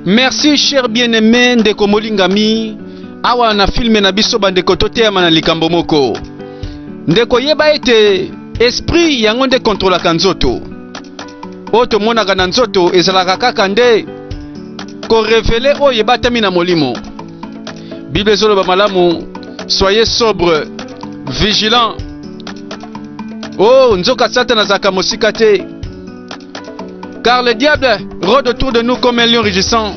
merci cher bien aimé ndeko molingami awa na filme na biso bandeko toteyama na likambo moko ndeko yeba ete esprit yango nde kontrolaka nzoto oyo tomonaka na nzoto ezalaka kaka nde korevele oyo ebatami na molimo bible ezoloba malamu soyez sobre vigilant o oh, nzoka satana azalaka mosika te car le diable rôde autour de nous comme un lion rugissant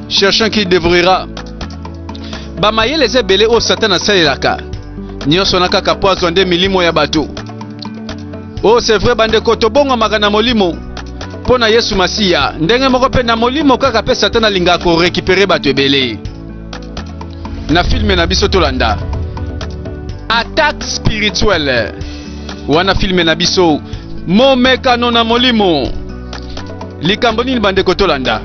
cherchant qui dévouera bamayele eza ebele oyo satana asalelaka nyonso na kaka mpo azwa nde milimo ya bato Oh, c'est vrai bandeko, tobongwamaka na molimo mpo na Yesu Masiya, ndenge moko mpe na molimo kaka mpe Satan alingaka korekipere bato ebele. Na filme na biso tolanda attaque spirituelle, wana filme na biso momekano na molimo. Likambo nini bandeko tolanda?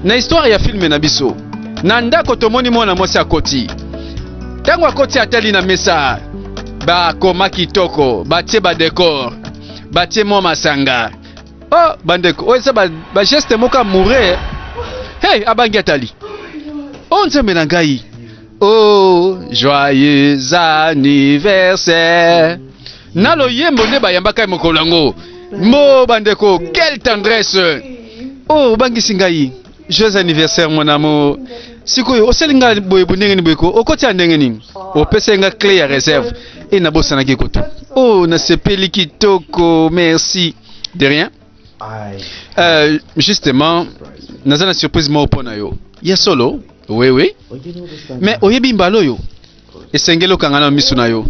Na histoire ya filme na biso, na ndako tomoni mwana mwasi akoti. Ntango akoti atali na mesa bakoma kitoko batie badekor batie mwa masanga o oh, bandeko oyo eza bageste moko amoure hey abangi atali o oh, nzambe na ngai o oh, joyeux anniversaire na loyembo nde bayambaka ye mokolo yango mo bandeko quelle tendresse oyo obangisi ngai Joyeux anniversaire mon amour. Sikoyo osali nga boye bo ndenge ni boye ko okoti ya ndenge nini? Opesa nga clé ya réserve et na bosanaki kutu. Oh na sepeli kitoko merci. De rien. Euh, justement naza na surprise moko mpo na yo ya solo wewe mais oyebi mbala oyo esengeli okanga na miso na yo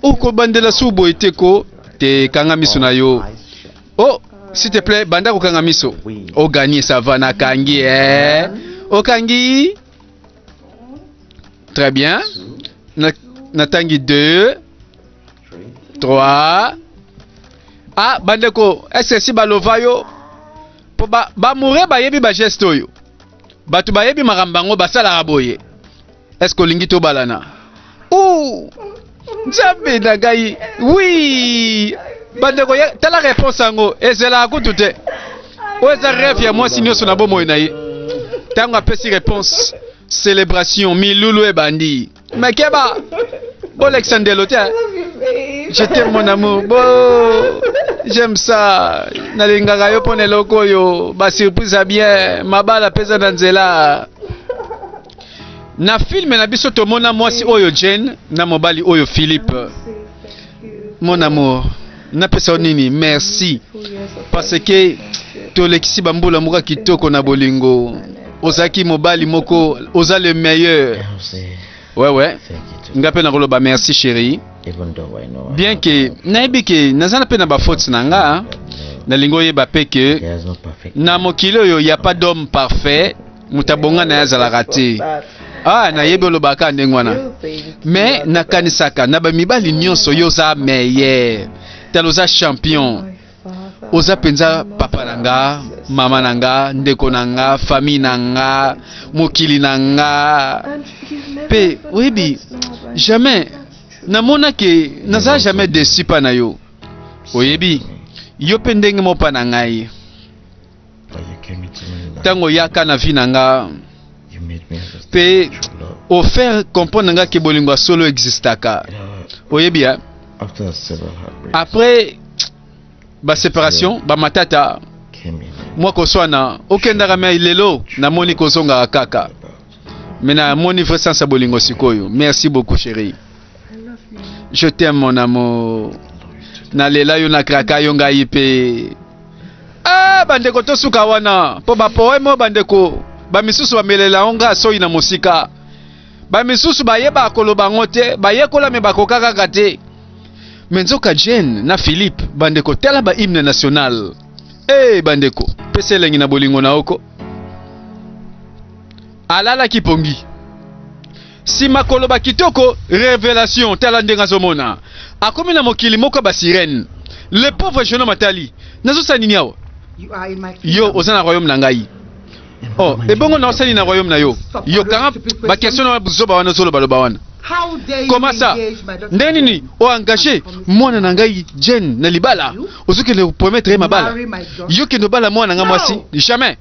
okobandela su boye te ko te kanga miso na yo Oh, s'il te plaît, banda kokanga miso. Oui. O gagner ça va na kangi eh. O kangi. Très bien. Na na tangi 2, 3. Ah, bandeko, est-ce que si balova yo po ba ba mourir ba yebi ba geste oyo. Batu ba yebi makambo yango basalaka boye. Est-ce que olingi tobalana? Ouh! Nzambe na ngai. Oui! Bandeko, ya- tala réponse yango. Ezela kutu te. Oyo eza rêve ya mwasi nyonso na bomoi na ye. Ntango apesi réponse, celebration, milulu ebandi. Makeba! Bolekisa ndelo te. hein? Je t'aime mon amour. Bo, j'aime ça. Nalingaka yo mpo na eloko oyo. Ba surprise ya bien. Mabala peza na nzela. Na filme na biso tomona mwasi oyo Jane na mobali oyo Philippe. Mon amour, napesa yo nini? Merci parce que tolekisi bambula moka kitoko na bolingo. Ozalaki mobali moko, oza le meilleur. Ouais, ouais. Nga mpe nakoloba merci chérie. Bien que nayebi ke naza mpe na bafaute na nga, nalingi oyeba mpe ke na mokili oyo ya pas d'homme parfait moto abonga na ye azalaka te ah nayebi olobaka ndenge wana me nakanisaka na bamibali nyonso yo oza meilleur tala oza champion oza mpenza papa na nga mama na nga ndeko na nga famille na nga mokili na nga mpe oyebi jamais namonaki naza jamais desi mpa na yo oyebi yo mpe ndenge mopa na ngai ntango oyaka na vi na nga mpe ofaire comprendre nga ke bolingo ya solo existaka oyebi ya après baseparation bamatata mwa koswana okendaka mai lelo namoni kozongaka kaka me namoni vrai sens ya bolingo sikoyo merci beaucoup chérie je t'aime mon amour nalela yo nakraka yo ngai mpe ah, bandeko tosuka wana mpo bapoeme oyo bandeko bamisusu bamelela yango ngai soyi na mosika bamisusu bayeba koloba yango te bayekola me bakoka kaka te me nzoka jane na philippe bandeko tala bahymne national e hey, eh, bandeko pesa elengi na bolingo na oko alalaki pongi Sima koloba kitoko revelation tala ndenge azomona akomi na mokili moko ba sirène le pauvre jeune homme atali nazosala nini awa yo oza na royaume na ngai oh ebongo na osali na royaume na yo yo kanga ba question na buzoba wana ozoloba loba wana koma sa ndenge nini oengage mwana na ngai jane na libala ozokende kopromettre ye mabala yo kende obala mwana na ngai mwasi jamais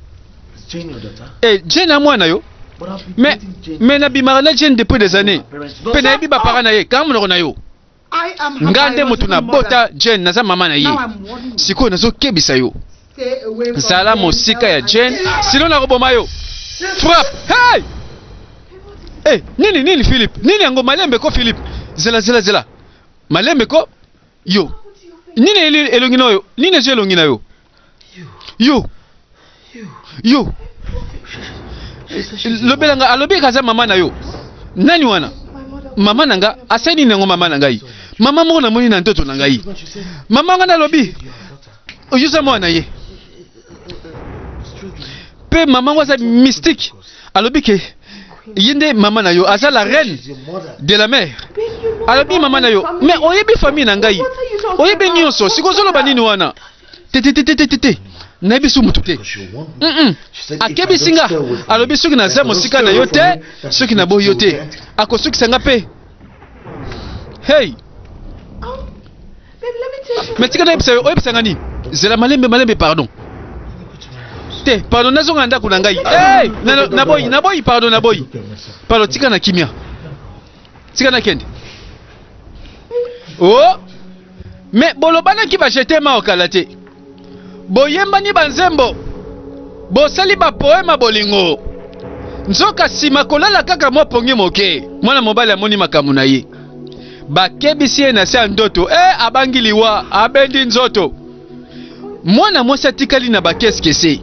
Eh, Jane na mwana yo mais mais nabimaka na Jane depuis des années mpe nayebi bapara na ye kanga monoko na yo nga nde moto nabota Jane naza mama na ye sikoyo nazokebisa yo zala mosika ya Jane sino nakoboma yo frappe hey! hey, eh, nini nini Philippe nini yango malembe ko Philippe zela zela zela malembe ko yo nini elongi na yo nini ezwi elongi na yo yo yo lobela nga alobi eka aza mama na yo nani wana mama na nga asali nini yango mama na ngai mama moko namoni na ntoto na ngai mama nga nalobi oyoza mwana na ye mpe mama ngo aza mystique alobi ke ye nde mama na yo aza la reine de la mère alobi mama na yo mais oyebi famille na ngai oyebi nyonso sikoyo ozoloba nini wana te te te te te te te nayebi su motu te Mm, mm. akebisi nga alobi soki naza mosika na yo te soki naboyi yo te akosukisa nga mpe hey me tika nayebisa yo oyebisa nga nini zela malembe malembe pardon te pardon nazonga na ndako na ngai hey! na- naboyi naboyi pardon naboyi pardon tika na kimia tika na kende o Mais bolobanaki ba je t'aime awa kala te. Boyembani ba nzembo. Bosali ba poema bolingo. Nzoka sima kolala kaka mwa pongi moke. Mwana mobali amoni makambo na ye. Bakebisi ye na se ya ndoto. Eh, abangi liwa, abendi nzoto. Mwana mwasi atikali na bakeskese.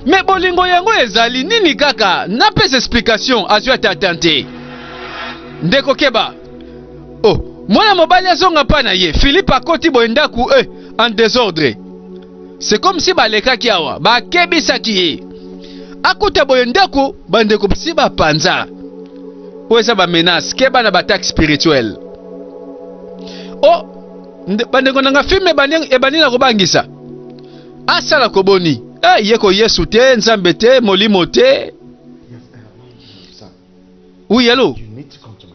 Me bolingo yango ezali nini kaka? Napesa explication, azwi ata atante. Ndeko keba. oh mwana mobali azonga mpa na ye philipe akoti boye ndako e eh, en desordre c'est comme si balekaki awa bakebisaki ye akota boye ndako bandeko si bapanza oyo eza bamenace keba na bataxe spirituel o oh, bandeko na nga filme ebandi na kobangisa asala koboni hey, eh, ye ko yesu te nzambe te molimo te Oui, allô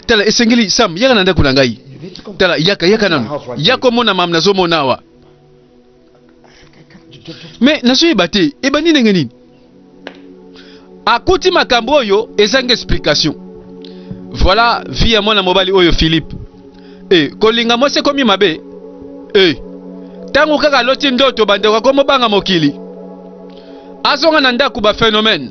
Tala, esengeli Sam, yaka na ndako na ngai. Tala, yaka yaka nanu. Yaka omona mam nazomona awa. Mais nazoyeba te, ebandi ndenge nini? Akuti makambo oyo ezanga explication. Voilà vie ya mwana mobali oyo Philippe. Eh, kolinga mwasi ekomi mabe. Eh, ntango kaka aloti ndoto bandeko akomobanga mokili. Azonga na ndako ba phénomène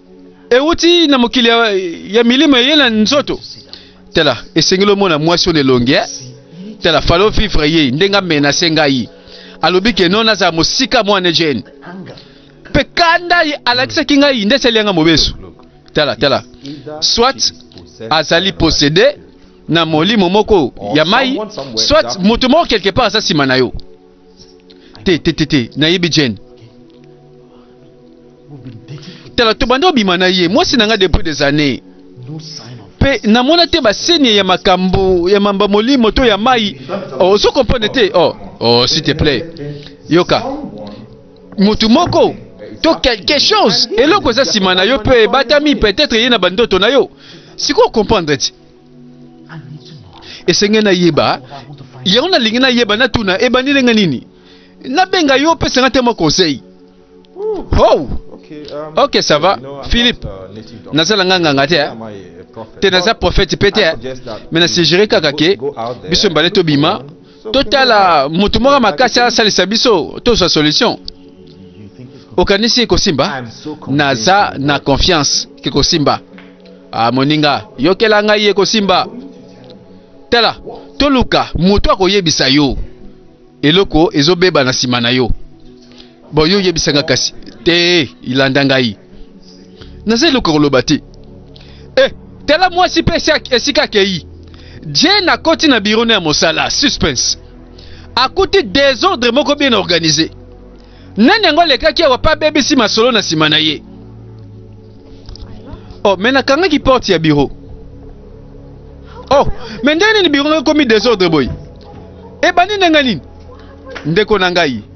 euti na mokili ya, ya milimo eye na nzoto tala esengeli omona mwasi oyo na elongi eh? tala falo vivre ye ndenge amenase ngai alobi ke non nazala mosika mwana ejeni mpe kanda alakisaki ngai nde esali yanga mobesu tala tala soit azali posede na molimo moko ya mai soit moto moko quelque part aza nsima na yo te te te te nayebi jane tala tobanda obima na ye mwasi na ngai depuis des années mpe namona te basenie ya makambo ya mamba molimo to ya mai oh, ozo comprendre te oh, oh s'il te plaît yoka motu moko to quelque chose eloko eza nsima na yo mpe ebatami peut-être ye na bandoto na yo sikoyo comprendre ti esenge nayeba yango nalingi nayeba natuna ebandi ndenge nini nabenga yo opesa nga te mwa conseil how okay, um, okay ça va you know, philippe uh, nazala nga nganga te eh? te naza prophète mpe te me na suggere kaka ke biso mbale tobima totala moto moko makasi asalisa biso tozwa solution okanisi ekosimba naza na confiance kikosimba ah, moninga yokela ngai ekosimba tala toluka moto akoyebisa yo eloko ezobeba na nsima na yo Bon, yo yebisa nga kasi te ilanda ngai naza eloko koloba te eh, tala mwasi mpe esika akei jane akoti na biro na ya mosala suspense akuti desordre moko bien organise nani yango alekaki awa mpe abebisi masolo na nsima na ye oh me nakangaki porte ya biro oh me ndenge nini biro ekomi desordre boye ebandi ndenge nini ndeko na ngai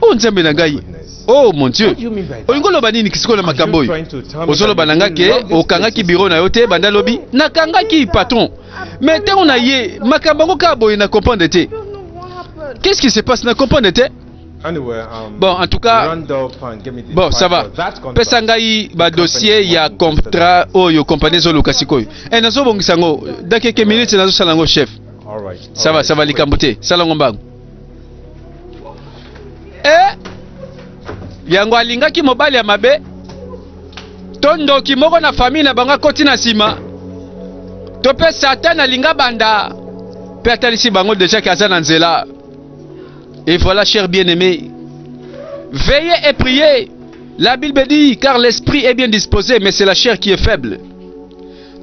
Oh Nzambe na ngai. Oh mon Dieu. Olingo loba nini kisiko na makambo oyo? Ozoloba na ngai ke okangaki biro na yo te banda lobi? Nakangaki patron. Mais ntango na ye makambo yango kaka boye na comprendre te. Qu'est-ce qui se passe na comprendre te? Um, bon, en tout cas, bon, ça va. Pesa ngai ba dossier ya contrat oyo compagnie zo luka sikoyo. Eh nazo bongisa ngo, dans quelques minutes nazo sala ngo chef. Ça va, ça va likambo te. Sala ngo mbango. eh yango alingaki mobali ya mabe to ndoki moko na famille na bango akoti na nsima to mpe satan alinga banda mpe atalisi bango deja ke aza na nzela et voilà cher bien aimé veillez et priez la bible dit car l'esprit est bien disposé mais c'est la chair qui est faible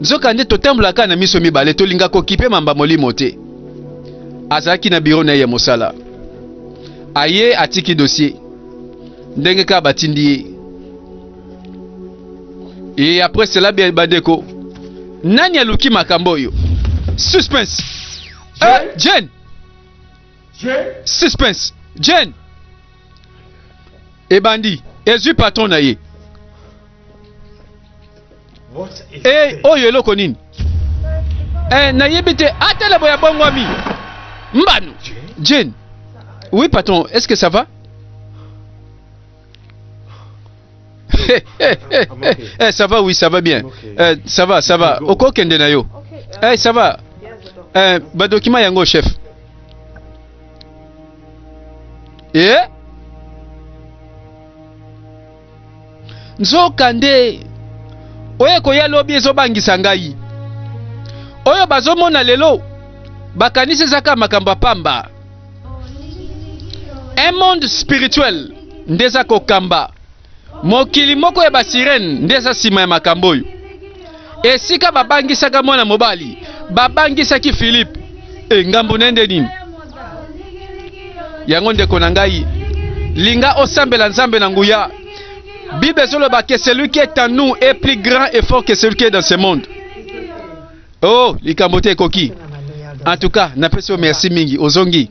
Nzokande, totambolaka kaka na miso mibale, tolingaka kokipe mamba molimo te. Azalaki na biro na ye ya mosala, aye atiki dossier ndenge kaka batindi ye. Et après cela, bien bandeko, nani aluki makambo oyo? Suspense. Eh, Jane. Suspense. Jane. ebandi ezwi patron na ye e oyo eloko nini e, nayebi te atala boya bongwami mbano jane oui patron est ce que ça va hey, hey, hey, hey. Eh, ça va oui ça va bien eh, ça va ça va okokende na yo eh, ça va eh, badokima yango chef eh? nzoka nde oyo ekoya lobi ezobangisa ngai oyo bazomona lelo bakanisi ezaka makambo ya pamba un monde spirituel nde eza kokamba Mokili moko ya basirene nde eza nsima ya makambo oyo. Esika babangisaka mwana mobali, babangisaki Filipe. E, eh, ngambo na nde nini? Yango ndeko na ngai, linga osambela Nzambe na nguya. Bible ezoloba que celui qui est en nous est plus grand et fort que celui qui est dans ce monde. Oh, likambo te ekoki. En tout cas, napesi yo merci mingi. Ozongi.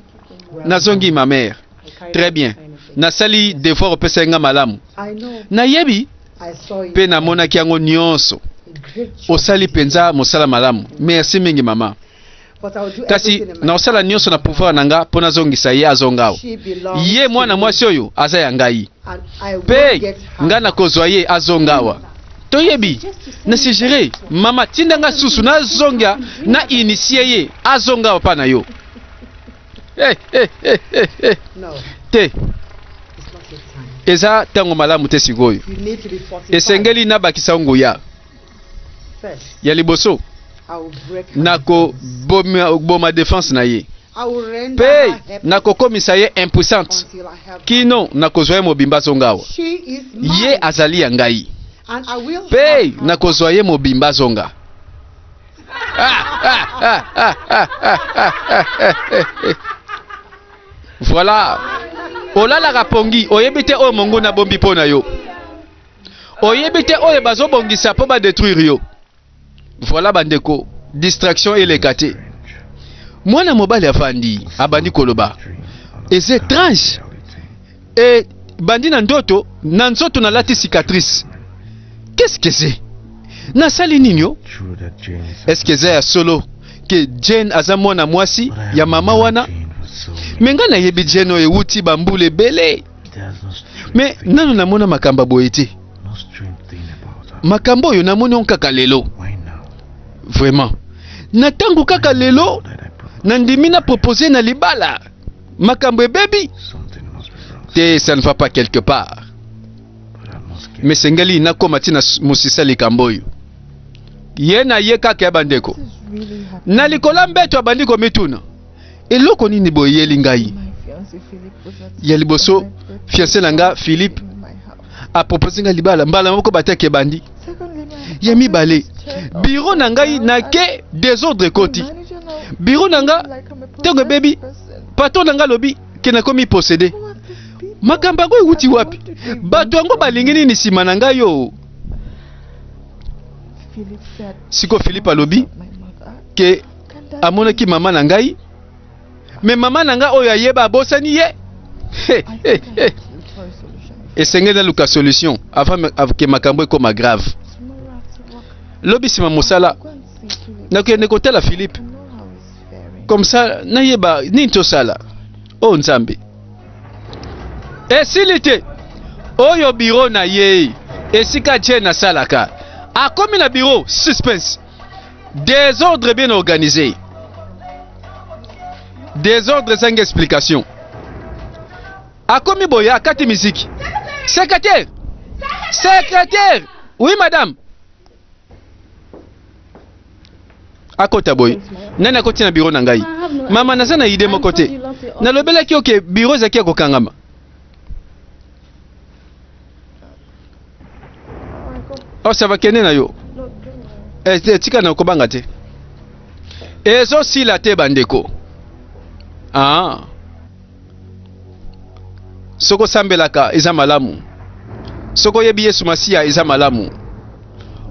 Nazongi ma mère. Très bien. Nasali devoir opesaki nga malamu. Nayebi mpe namonaki yango nyonso. Osali mpenza mosala malamu. Merci mingi mama. kasi nakosala nyonso na pouvoir na nga mpo nazongisa ye azonga o ye mwana mwasi oyo aza ya ngai mpe ngai nakozwa ye azonga awa toyebi na sugere mama tinda ngai susu nazonga na initie ye azonga awa mpa na yo Hey, hey, hey, hey, hey. No. Te. Eza tango malamu te sikoyo. Esengeli nabakisa nguya. Ya liboso nakoboma defense na ye mpe nakokomisa ye impuissante kino nakozwa ye mobimba azonga awa ye azali ya ngai mpe nakozwa ye mobimba azonga voilà olalaka pongi oyebi te oyo monguna abombi mpo na yo oyebi te oyo bazobongisa mpo badetruire yo voilà bandeko distraction eleka te mwana mobali afandi abandi koloba eza étrange Et bandi na ndoto na nzoto na lati cicatrice qu'est-ce que c'est na sali nini yo est-ce que ya solo que Jane aza mwana mwasi ya mama wana me ngai nayebi Jane oyo ewuti bambula ebele me nano namona makambo ya boye te makambo oyo namoni on kaka lelo vraiment na ntango kaka lelo nandimi na propose na libala makambo ebebi te ça ne va pas quelque part mais sengeli nakoma ntina mosisa likambo oyo ye na ye kaka ya bandeko na likolo ya mbeto abandi komituna eloko nini boyeli ngai ya liboso fianse na nga philippe a propose nga libala mbala moko bataki ebandi ya mibale biro na ngai nake desordre ekoti biro na nga ntango ebebi patron na ngai alobi ke nakomi posede makambo yango ewuti wapi bato yango balingi nini nsima na ngai yo siko philippe alobi ke amonaki mama na ngai me mama na nga oyo ayeba abosani ye esengeli naluka solution avant ke makambo ekoma grave lobi nsima mosala nakende kotala philippe comme ça nayeba nini tosala o oh, nzambe esili te oyo biro na ye esika jane asalaka akomi na biro suspense desordre bien organise desordre ezangi explication akomi boye akati miziki secrétaire secrétaire oui madame akota boye nani akoti na biro na ngai mama naza na ide moko te nalobelaki oke biro ezalaki ya kokangama Oh, ça va kende na yo. Eh, eh, tika na kobanga te. Ezo sila te bandeko. Ah. Soko sambelaka eza malamu. Soko yebi Yesu Masiya eza malamu.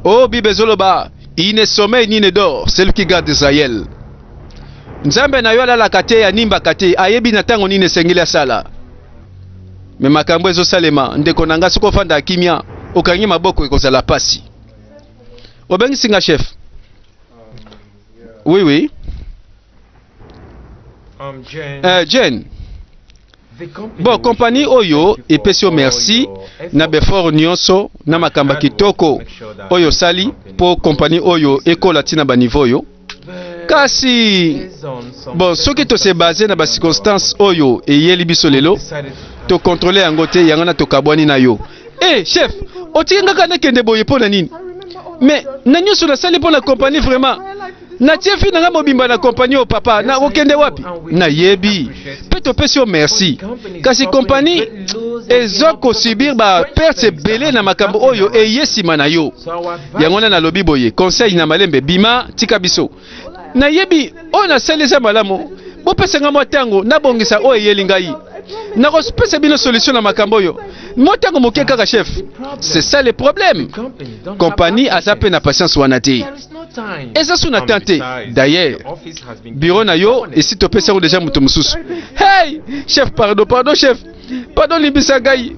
Oh, Bible ezoloba, il ne sommeille ni ne dort, celui qui garde Israël. Nzambe na yo alalaka te, animbaka te, ayebi na ntango nini esengeli asala. me makambo ezosalema ndeko na nga soki ofanda kimia okangi maboko ekozala pasi obengisi nga chef oui oui um, Jane. Uh, Jane. bon kompani oyo epesi yo merci na befort nyonso na makamba kitoko oyo osali mpo kompani oyo ekola ntina banivo oyo kasi bon soki tose base na bacirconstance oyo eyeli biso lelo tokontrole yango te yango na tokabwani na yo e hey, chef otie ngaka nakende boye mpo na nini mais na nyonso nasali mpo na kompani vraiment natie fi na nga mobimba na kompani oyo papa nakokende wapi nayebi mpe topesi yo merci kasi kompani eza kosubir baperte ebele na makambo oyo eye nsima na yo yango wana nalobi boye conseil na malembe bima tika biso nayebi oyo nasali eza malamu bopesa ngai mwa ntango nabongisa oyo eyeli ngai nakopesa bino solution na makambo oyo mwa ntango moke kaka chef c'est ça le problème kompani aza mpe na patience wana te eza so na temps te d'ailleurs biro na yo esi topesi yango deja moto mosusu hey chef pardon pardon chef pardon limbisa ngai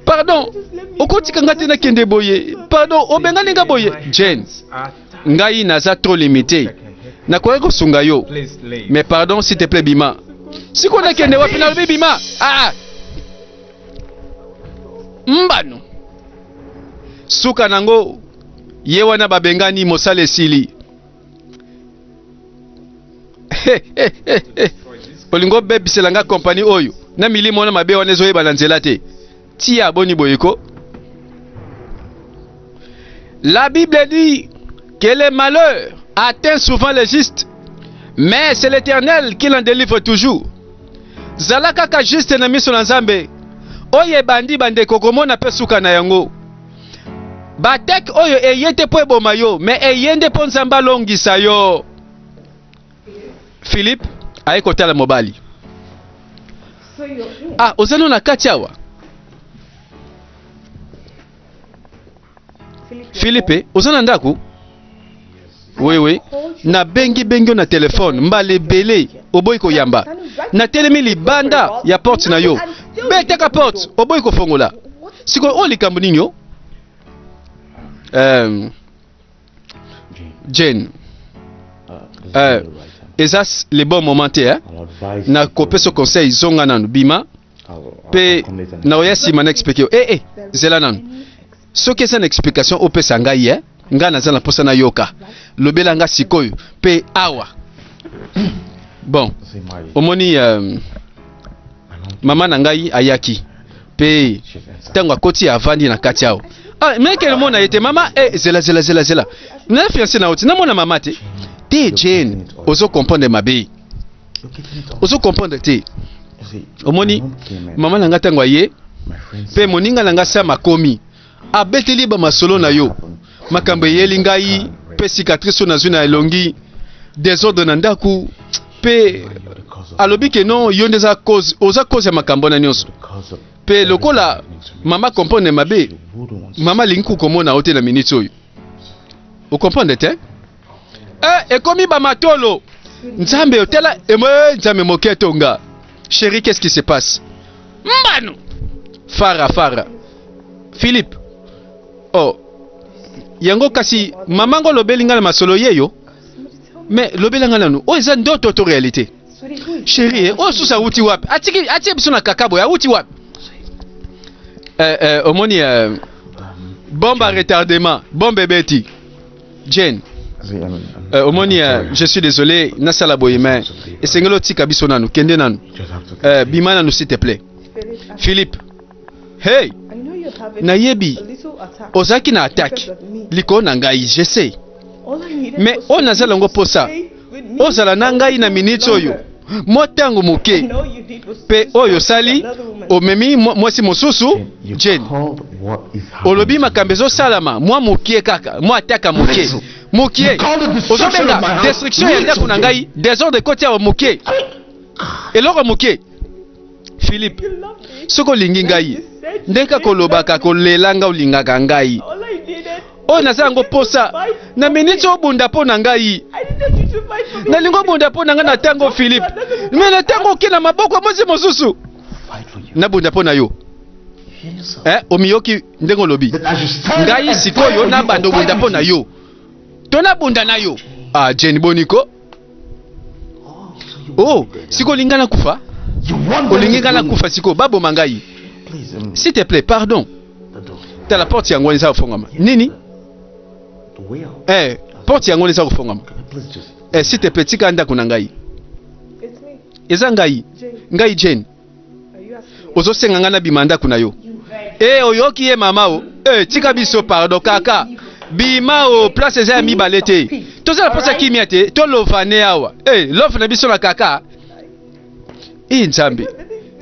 pardon okotika ngai te nakende boye pardon obengani ngai boye jane ngai naza trop limité nakoki kosunga yo mais pardon s'il te plaît bima sikoyo nakende wapi nalobi bima ah, ah. mbano suka nango Ye wana babengani mosala esili. Hey, hey, hey, hey. Olingi obebisela nga kompani oyo na milimo wana mabe wana ezoyeba na nzela te. Tia boni boye ko. La Bible dit que les malheurs atteignent souvent les justes, mais c'est l'Éternel qui l'en délivre toujours. Zala kaka juste na miso na Nzambe. Oyo ebandi bandeko komona mpe suka na yango. Batek oyo eye te mpo eboma yo, me eye nde mpo Nzambe alongisa yo. Philippe aye kotala mobali. Ah, oza no na kati awa. Philippe, oza na ndako? Oui, oui. Na bengi bengi yo na telefone mbala ebele oboyi koyamba. Natelemi libanda ya porte na yo, betaka porte oboyi kofongola. Sikoyo oyo likambo nini yo? Um, Jane, uh, eza s- le bon moment te eh? na kopesa conseil zonga nanu bima mpe naoya nsima na explike yo ee eh, eh, zela nanu Soki eza na explication opesa ngai ye, eh? ngai naza na mposa nayoka. Lobela nga sikoyo mpe awa. Bon, omoni euh, mama na ngai ayaki mpe ntango akoti avandi na kati awa ah, meke namona ye te mama eh, zela zela zela zela na fiance na oti namona mama te te jane ozo comprendre mabe ozo comprendre te omoni mama na ngai ntango aye mpe moninga na ngai sama akomi abeteli ba masolo na yo makambo eyeli ngai mpe cicatrice oyo nazwi na elongi desordre na ndako mpe alobi ke non yo nde oza cause ya makambo wana nyonso mpe lokola mama comprendre mabe mama alingi kokomona yo te na minute oyo okomprendre te Eh, ekomi ba matolo. Nzambe otela emo eh, Nzambe moke tonga. Chérie, qu'est-ce qui se passe? Mbano. Fara fara. Philippe. Oh. Yango kasi maman ngo lobeli nga na masolo yeyo. Mais lobela nga nanu. Oh eza ndoto to réalité. Chérie, eh, oh susa uti wapi? Atiki atie biso na kakabo ya uti wapi? Eh eh omoni eh, bombe à retardement, bombe ebeti. Jane, euh, omoni euh, je suis désolé nasala boye mais esengeli otika biso nanu kende nanu euh, bima nanu s'il te plaît philippe hey nayebi ozalaki na attaque likolo na ngai je sais mais oyo naza nango mposa ozala na ngai na miniti oyo mwa ntango moke mpe oyo osali omemi mwasi mosusu jeni olobi makambo ezosalama mwa moke kaka mwa ataka moke moke ozobenga destruction ya ndako na ngai desordre ekoti awa moke eloko moke Philippe, soki olingi ngai ndenge kaka olobaka kolela ngai olingaka ngai oyo naza yango mposa na miniti obunda mpo na ngai nalingi obunda mpo na ngai na ntango Philippe me na ntango oke na maboko ya mwasi mosusu nabunda mpo na yo eh, omiyoki ndenge olobi ngai sikoyo nabanda obunda mpo na yo to nabunda na yo ah, jeni boniko oh siko olinga na kufa olingi nga na kufa siko baboma ngai s'il te plaît pardon tala porte yango wana eza kofongama nini eh, porte yango wana eza kofongama eh, s'il te plaît tika ndako na ngai eza ngai ngai jane ozosenga ngai nabima ndako na yo e eh, oyoki ye mama o e tika biso pardon kaka bima o place eza ya mibale te tozala mposa kimia te tolovane awa e love na biso na kaka e nzambe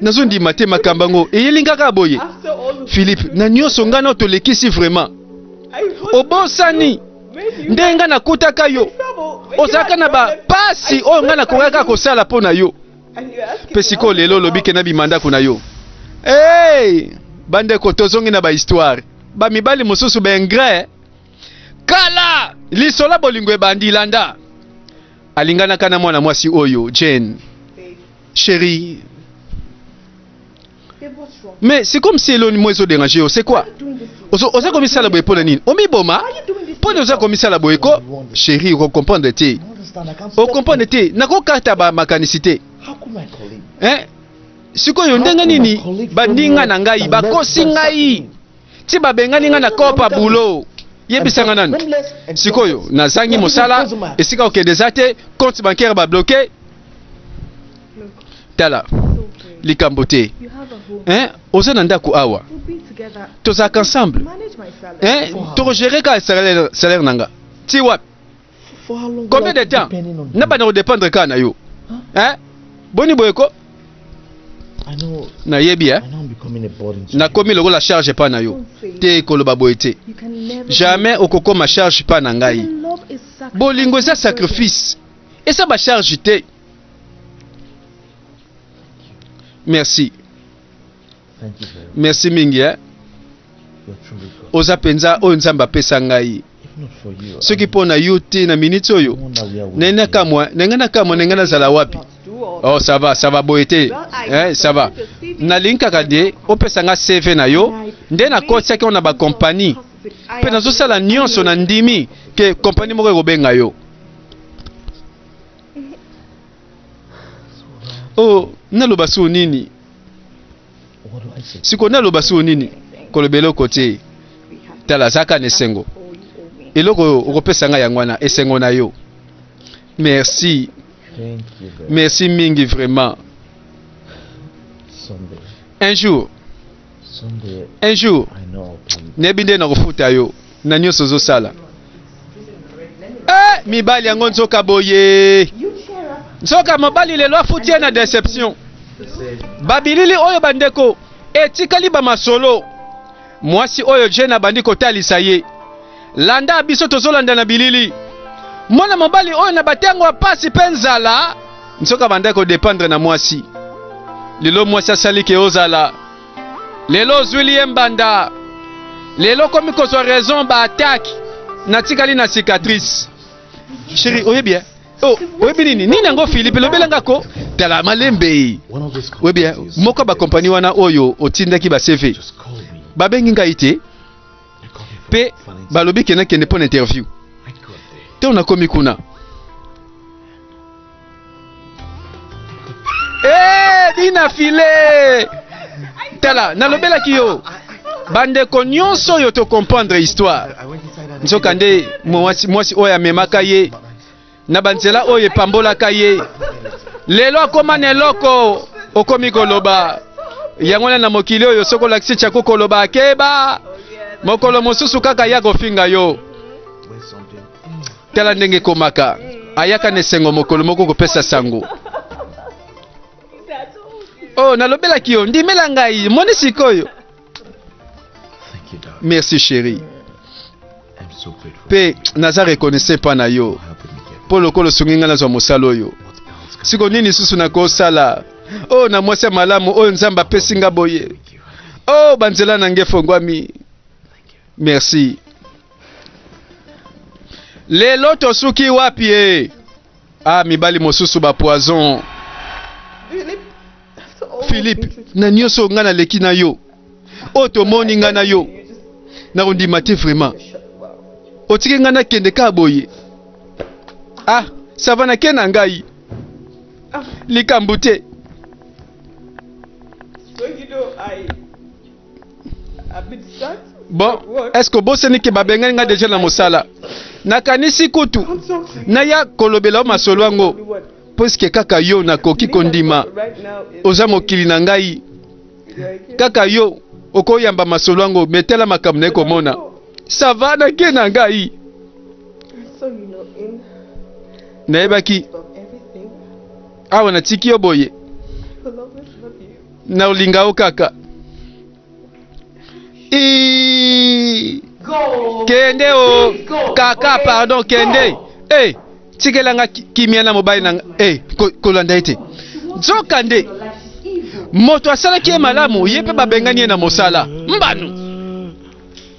nazondima te makambo yango eyeli kaka boye philippe na nyonso ngai nao tolekisi vraiment obosani ndenge ngai nakutaka yo ozalaka na bapasi oyo ngai nakokaka kosala mpo na yo mpe sikoyo lelo olobi ke na bima ndako na yo hey! bandeko tozongi na bahistoire bamibali mosusu baingre kala lisola bolingo ebandi landa alinganaka na mwana mwasi oyo jane sheri mais c'est comme si eloni moi ezo déranger yo c'est quoi ozo oza komisala boye pona nini omiboma pona oza komisala boye ko chérie oko comprendre te o comprendre te nakokata ba makanisi te hein sikoyo ndenge nini baninga na ngai bakosi ngai ti babengani nga na kopa boulot yebisa nga nanu sikoyo nazangi mosala esika okende eza te compte bancaire babloke tala likambo te eh, oza na ndako awa tozalaka ensemble eh, tokogere kaka salaire na nga ti wapi combien de temps na banda ko dépendre ka na yo hein boni boye ko nayebi eh? nakomi lokola charge epai na yo te koloba boye te jamais okokoma charge epai na ngai bolingo eza sacrifice eza bacharge te merci merci mingi eh? oza mpenza oyo nzambe apesa ngai soki mpo na yo te na miniti oyo nangai nakamwa nangai nakamwa nangai nazala wapi oh ça va ça va boye te eh, ça va nalingi kaka de opesa ngai cv na yo nde nakotisaki yo na bakompani mpe nazosala nyonso na ndimi ke kompani moko ekobenga yo oh naloba sio nini siko naloba sio nini koloba eloko te tala azaka na esengo eloko oyo okopesa ngai yango wana esengo na yo merci merci mingi vraiment un jour un jour nayebi nde nakofuta yo na nyonso ozosala eh, mibali yango nzoka boye nzoka mobali lelo afuti ye na deception babilili oyo bandeko etikali bamasolo mwasi oyo jene abandi kotalisa ye Landa biso tozolanda na bilili. Mwana mobali oyo na batango ya pasi mpe nzala, nsoka banda kodependre na mwasi. Lelo mwasi asali ke ozala. Lelo ozwili ye mbanda. Lelo komi kozwa raison ba attaque. Natikali na cicatrice. Chérie, oyebi ya? Oh, oyebi nini? Nini yango Philippe lobela nga ko? Tala malembe. Oyebi ya? Moko ba compagnie wana oyo otindaki ba CV. Babengi ngai te. mpe balobi ke nakende mpo na interview ntango nakomi kuna eh, dina file tala nalobelaki yo bandeko nyonso oyo tokomprendre histoire nzoka nde mwasi oyo amemaka ye na banzela oyo epambolaka ye lelo akoma na eloko okomi koloba yango wana na mokili oyo soki olakisi chako koloba akeba mokolo mosusu kaka ya kofinga yo tala ndenge ekomaka ayaka na esengo mokolo moko kopesa sango oyo oh, nalobelaki yo ndimela ngai moni sikoyo Merci chérie. Pe naza reconnaissant pa na yo mpo lokola osungi ngai nazwa mosala oyo. Siko nini lisusu nakosala oyo oh, na mwasi ya malamu oyo oh, Nzambe apesi nga boye? Oyo oh, banzela na ngai efongwami. Merci. Lelo tosuki wapi e? Ah, mibali mosusu ba poison. Philippe, oh, na nioso nga na leki na yo. Oyo tomoni nga na yo. Na kondima te vraiment. Otiki nga na kende ka boye. Ah, ça va na ke na ngai. Ah. Likambo te. Bon, est-ce que bosani ke babengani nga deja na mosala? Nakanisi kutu naya kolobela o masolo yango puisque kaka yo nakoki kondima oza mokili na ngai kaka yo okoyamba masolo yango metala makambo naye komona sava nake na ngai nayebaki awa natiki yo boye Na olinga yo kaka. Ii. Kende o kaka pardon kende. Eh, tikela nga ki- kimia na mobali na nga. Eh, ko- kolanda ye te. Nzoka nde moto asalaki ye malamu ye mpe babengani ye na mosala mbano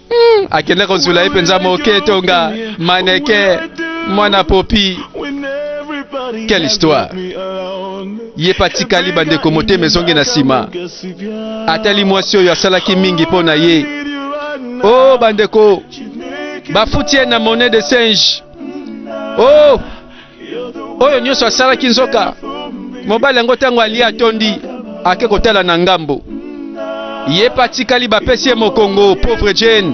Hmm, akenda kozula ye mpenza moke tonga maneke mwana popi quelle histoire ye mpe atikali bandeko motema ezongi na nsima atali mwasi oyo asalaki mingi mpo na ye o oh, bandeko bafuti ye na monnaie de singe o oh, oyo nyonso asalaki nzoka mobali yango ntango alie atondi ake kotala na ngambo ye mpe atikali bapesi ye mokongo pauvre jane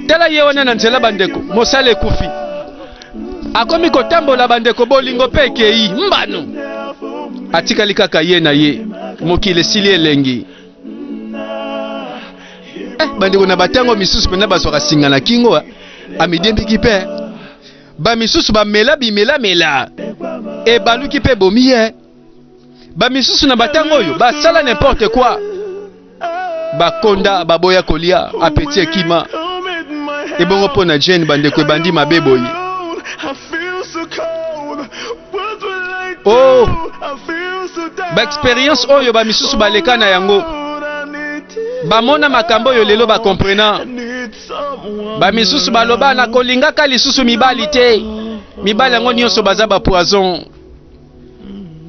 tala ye wana na nzela bandeko mosala ekufi akomi kotambola bandeko bolingo mpe ekei mbano atikali kaka ye na ye mokili esili elengi eh, bandeko na batango misusu mpena bazwaka singa na kingo amidembiki mpe bamisusu bamela bimelamela ebaluki mpe bomi ye bamisusu na batango oyo basala n'importe quoi bakonda baboya kolia apeti ekima ebongo mpo na jane bandeko ebandi mabe boye oh baexperience oyo bamisusu baleka na yango bamona makambo oyo lelo bakomprena bamisusu baloba na kolingaka lisusu mibali te mibali yango nyonso baza bapoison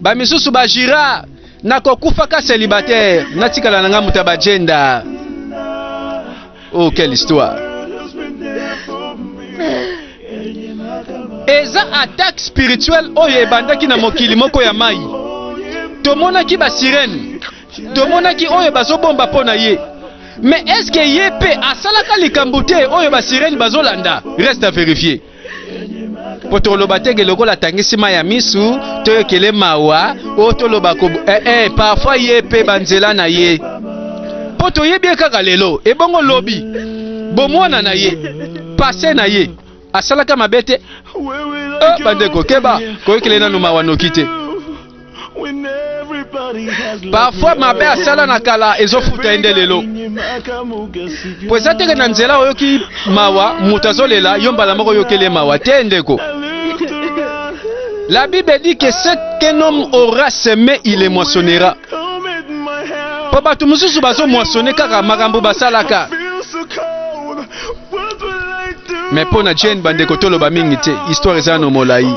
bamisusu bajira na kokufaka celibataire natikala na ngai moto ya bagenda oh quelle histoire eza attaque spirituelle oyo ebandaki na mokili moko ya mai tomonaki basirene tomonaki oyo bazobomba mpo na ye mais est-ce que ye mpe asalaka likambo te oyo basirene bazolanda reste à vérifier mpo toloba teke lokola atangisi mai ya misu toyokele mawa oyo toloba ko eh, eh, parfois ye mpe banzela na ye mpo toyebi ye kaka lelo ebongo lobi bomwana na ye pase na ye asalaka mabe te ah, bandeko keba koyokele nanu mawa noki te parfois mabe asala na kala ezofuta ye nde lelo po eza teke na nzela oyoki mawa moto azolela yo mbala moko oyokeli ye mawa te ndeko la bible dit que ce qu'un homme aura semé il le moissonnera po bato mosusu bazomoissonne kaka makambo basalaka me mpo na jane bandeko toloba mingi te histoire eza no molai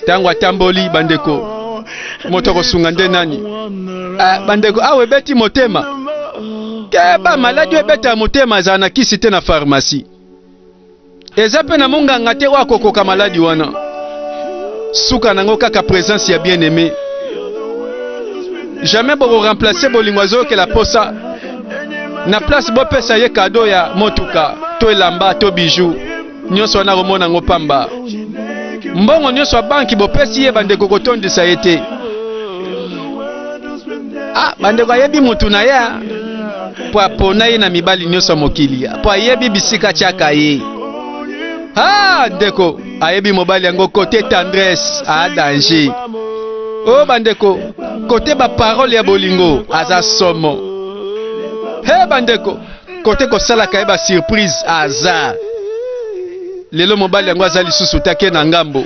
ntango atamboli bandeko moto akosunga nde nani ah, bandeko awa ebeti motema keba maladi oyo ebeta motema ezala na kisi te na farmasi Eza pe na monganga te oyo akokoka maladi wana. Suka nango kaka presence ya bien aime. Jamais boko remplacer bolingo azoyokela posa na place bopesa ye kado ya motuka to elamba to bijou nyonso wana akomona yango pamba. Mbongo nyonso ya banki bopesi ye bandeko kotondisa ye te. Ah, bandeko ayebi mutu na ye mpo apona ye na mibali nyonso ya mokili mpo ayebi bisika tyaka ye ah, ndeko ayebi mobali yango kote tendresse a ah, danger o oh, bandeko kote baparole ya bolingo aza somo he hey, bandeko kote kosalaka ye basurprise aza lelo mobali yango aza lisusu te ake na ngambo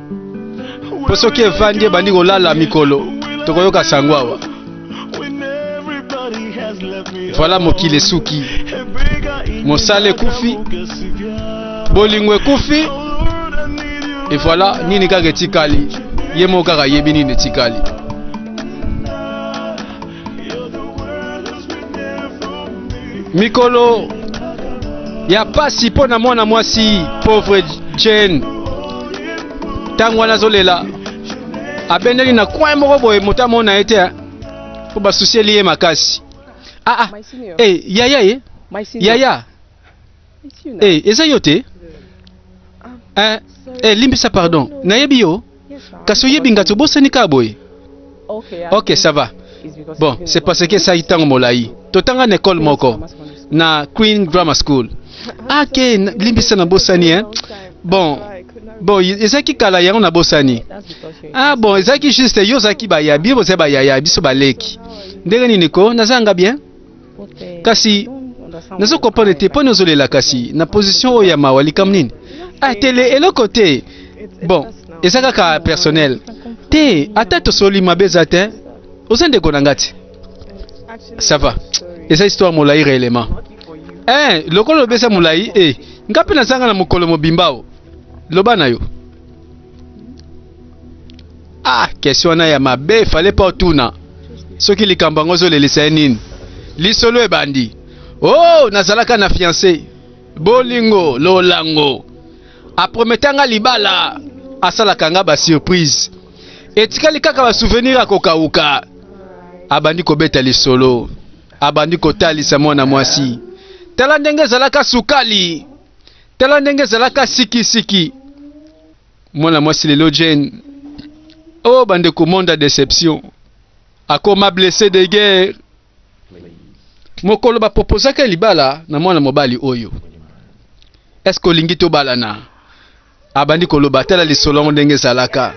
mpo soki efandi ebandi kolala mikolo tokoyoka sango awa voilà mokili esuki mosala ekufi bolingo ekufi e voilà nini kaka etikali ye moko kaka ayebi nini etikali mikolo ya pasi mpo na mwana mwasi pauvre jane ntango wana azolela abendeli na coin moko boye moto amona ye te mpo basusieli ye makasi aa ah, ah. hey, eh, yaya ye eh? yaya Eh, eza yo te eh, eh, limbisa pardon nayebi yo kasi oyebi ngati obosani kaka boye ok ça va bon c'est parce que esali ntango molai totanga na ekole moko na queen grammar school ake ah, limbisa na bosani hein? bon bon ezalaki kala yango na bosani ah bon ezalaki juste yo ozalaki bayabi bozali bayaya biso baleki ndenge nini ko nazanga bien kasi nazo comprendre te mpo nozolela kasi na position oyo ya mawa likambo nini ah tele eloko te bon eza kaka personnel te ata tosoli mabe eza te oza ndeko na nga te ça va eza histoire molai réellement eh lokola lobi eza molai e eh, nga mpe nazanga na mokolo mobimba o loba na yo ah question wana ya mabe fallait pas otuna soki likambo yango ozolelisa ye nini lisolo ebandi oh nazalaka na fiance bolingo lolango aprometa nga libala asalaka nga basurprise etikali kaka basouvenir ya kokauka abandi kobeta lisolo abandi kotalisa mwana mwasi tala ndenge ezalaka sukali tala ndenge ezalaka sikisiki mwana mwasi lelo Jane oh bandeko monde ya deception akoma blesse de guerre mokolo bapropozaka libala na mwana mobali oyo eske olingi tobalana abandi koloba tala lisolo yango ndenge ezalaka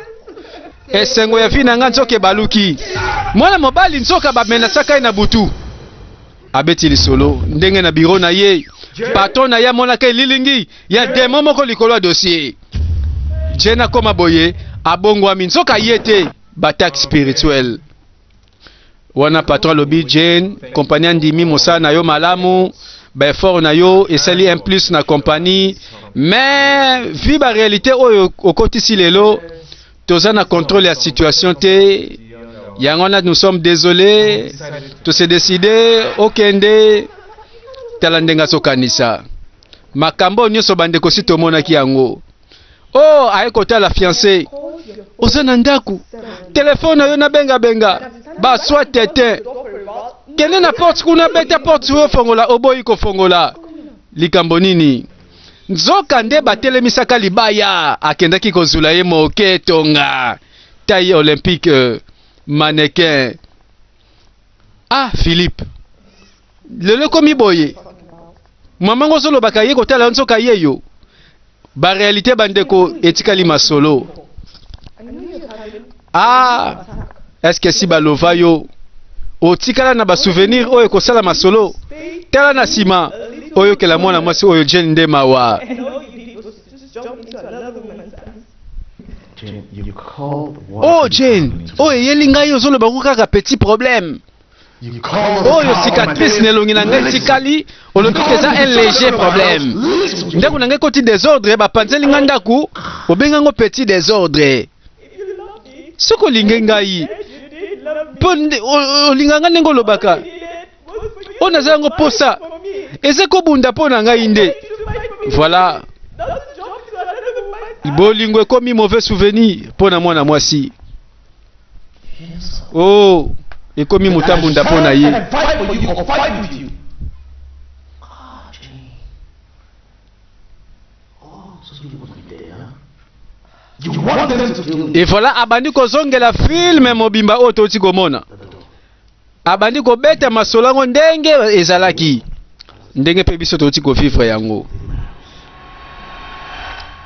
esengo ya vi na ngai nzoka ebaluki mwana mobali nzoka bamenasaka ye na butu abeti lisolo ndenge na biro na ye patron na ye amonaka elilingi ya demo moko likolo ya dossier jene akoma boye abongwami nzoka ye te bataxe spirituel wana patron alobi jane kompani andimi mosala na yo malamu baeffort na yo esali un plus na kompani mais vi barealité oyo okotisi lelo toza na contrôle ya situation te yango wana nous sommes désolés tose décide okende tala ndenge azokanisa makambo oyo nyonso bandeko si tomonaki yango o oh, aye kotala fiance oza na ndako telefone na yo nabengabenga baswa tete kende na porte kuna beta porte oyo ofongola oboyi kofongola likambo nini Nzoka nde batelemisaka libaya, akendaki kozula ye moke tonga taille olympique mannequin. Ah Philippe, lelo ekomi boye mama ngo ozolobaka ye kotala yo nzoka ye yo barealité bandeko etikali masolo Ah, est-ce que si balova yo otikala na basouvenir oyo ekosala masolo tala na nsima oyokela mwana mwasi oyo jane nde mawa oh jane oyo oh, eyeli ngai ozoloba ngo kaka petit problème oyo cicatrice na elongi na ngai etikali olobi te eza un léger problème ndako na ngai ekoti desordre bapanzeli ngai ndako obenga yango petit desordre soki olingi ngai mpo olinga ngai ndenge olobaka oyo naza yango mposa eza kobunda mpo na ngai nde voilà bolingo ekomi mauvais souvenir mpo na mwana mwasi oh ekomi motambunda mpo na ye evola abandi kozongela filme mobimba oyo touti komona abandi kobeta masolo yango ndenge ezalaki ndenge mpe biso touti kovivre yango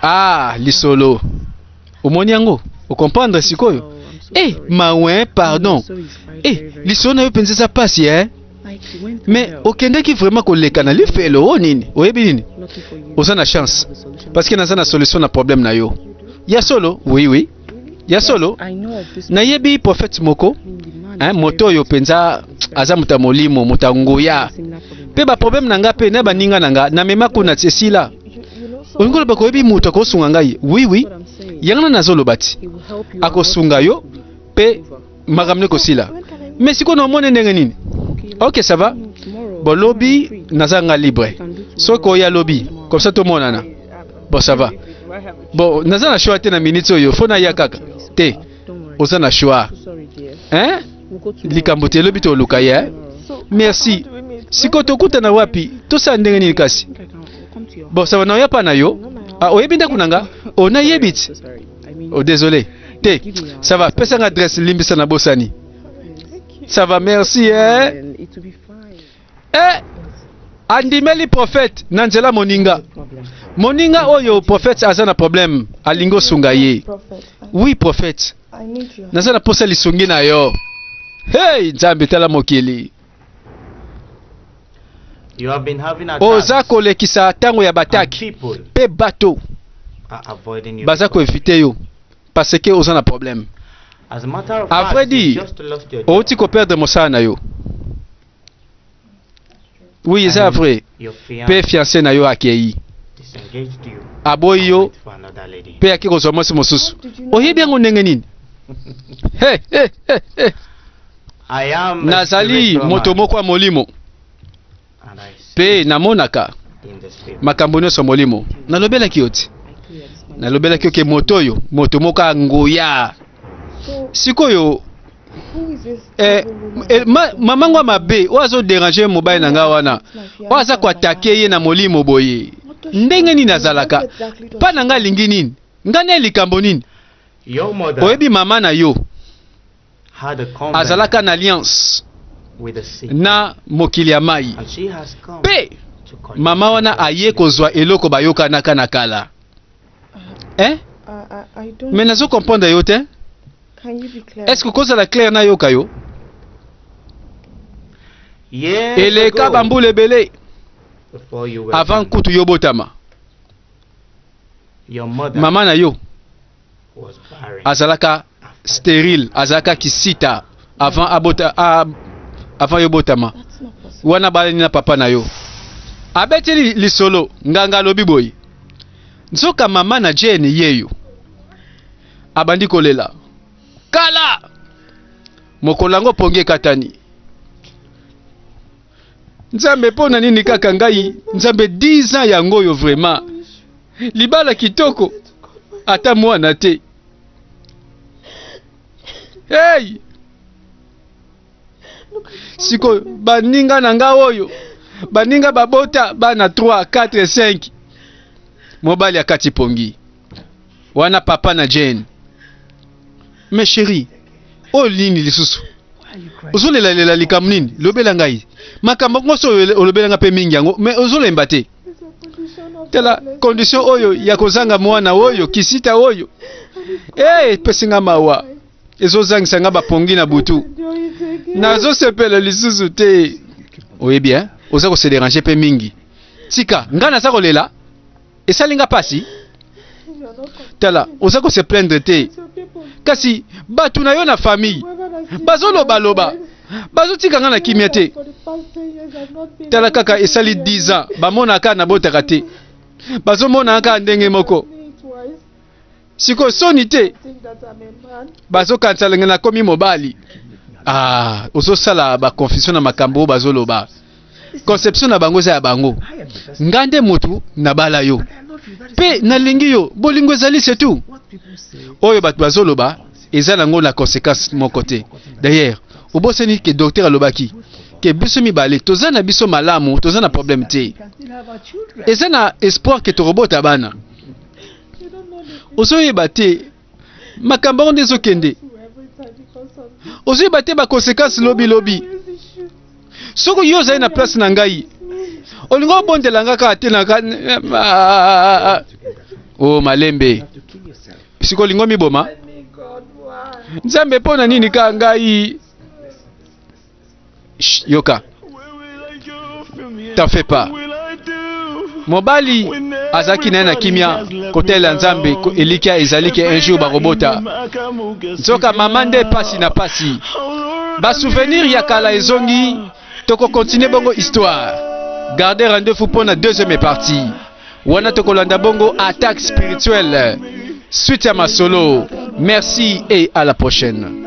ah lisolo omoni yango okomprendre sikoyo e eh, mawe pardon e eh, lisolo na yo mpenza eza mpasi e mais okendeki vraiment koleka na lifelo o oh, nini oyebi nini oza na chance parce que naza na solution na problème na yo ya solo oui oui ya solo nayebi prophète moko hein, moto oyo mpenza aza moto ya molimo moto ya nguya mpe baproblème na ngai mpe na baninga na ngai namema kuna esila olingi oloba koyebi moto akosunga ngai wiwi yango na nazoloba ti akosunga yo mpe makambo ekosila mais sikoyo na omoni ndenge nini ok ça va bon lobi naza nga libre soki oya lobi comme ça tomonana bon ça va bon naza na choix te na minute oyo fo naya kaka te oza na choix hein likambo te lobi toluka ye hein? merci sikoyo tokutana wapi tosala ndenge nini kasi bon ça va naoya pa na yo ah, oyebi ndako na nga onayebi ti Oh, désolé. T, ça va. Pesa nga adresse limbisa na bosani. Ça va, merci. Hein? Eh, andimeli prophète na nzela moninga. Moninga oyo prophète aza na problème, alingo sunga ye. Oui, prophète. Naza na posa lisungi na yo. Hey, Nzambe tala mokili. Oza kolekisa ntango ya bataki mpe bato baza koevite yo parce que oza na problème. A vrai dire, outi koperdre mosala na yo. Oui, eza vrai. Mpe fiancé na yo akei aboyi yo mpe ake kozwa mwasi mosusu. Oyebi yango ndenge nini? Hey, hey, hey, hey. Nazali moto moko ya molimo mpe namonaka makambo nyonso ya molimo. Nalobelaki yo te, nalobelaki yo ke moto oyo moto moko ya nguya. Sikoyo eh, eh, ma, mama ngo mabe oyo azoderange mobali na ngai wana oyo aza koatake ye na molimo boye ndenge nini azalaka mpa na ngai alingi nini ngai na ye likambo nini oyebi mama na yo azalaka na alliance na mokili ya mai mpe mama wana aye kozwa eloko bayokanaka na kala eh? me nazo comprendre yo te est ce que kozala claire nayoka yo eleka bambula ebele avant kutu yobotama mama na yo azalaka sterile azalaka kisita avant abota a, avant yo botama wana balani na papa na yo abeteli lisolo nganga alobi boye nzoka mama na jane yeyo abandi kolela kala mokolo yango pongi ekatani Nzambe pona nini kaka ngai Nzambe 10 ans yango oyo vraiment libala kitoko ata mwana te hey! sikoyo baninga na nga oyo baninga babota bana 3 4 5 mobali akati pongi wana papa na jane mais chérie oyo nini lisusu ozolelalela likambo nini lobela ngai makambo nyonso oyo olobela ngai mpe mingi yango mais ozolemba te tala condition oyo ya kozanga mwana oyo kisita oyo hey, eh, epesi ngai mawa ezozangisa ngai bapongi na butu nazosepela lisusu te oyebi eh? oza kose derange mpe mingi tika ngai naza kolela esali nga pasi tala oza ko se plaindre te kasi bato na yo na famille bazolobaloba bazotika nga na kimia te tala kaka esali 10 ans bamonaka nabotaka te bazomonaka ndenge moko siko soni te bazokanisa lenge nakomi mobali ah, ozosala baconfusion na makambo oyo bazoloba conception na bango eza ya bango nga nde motu nabala yo mpe nalingi yo bolingo ezali setu oyo bato bazoloba eza nango na conséquence moko te d'ailleurs obosani ke docteur alobaki ke biso mibale toza na biso malamu toza na problème te eza na espoir ke tokobota bana ozoyeba te makambo yango nde ezokende ozoyeba te bakonsekansi lobilobi soki yo ozali na place na ngai olingi obondela nga kaka te naka o oh, malembe siko olingi omiboma nzambe mpo na nini kaka ngai yoka t'en fais pas mobali azalaki naye na kimia kotalela nzambe elikya ezali ke un jour bakobota nzoka mama nde pasi na pasi basouvenir ya kala ezongi tokokontinue bongo histoire garde rendez-vous mpo na deuxième partie wana tokolanda bongo attaque spirituelle suite ya masolo merci et à la prochaine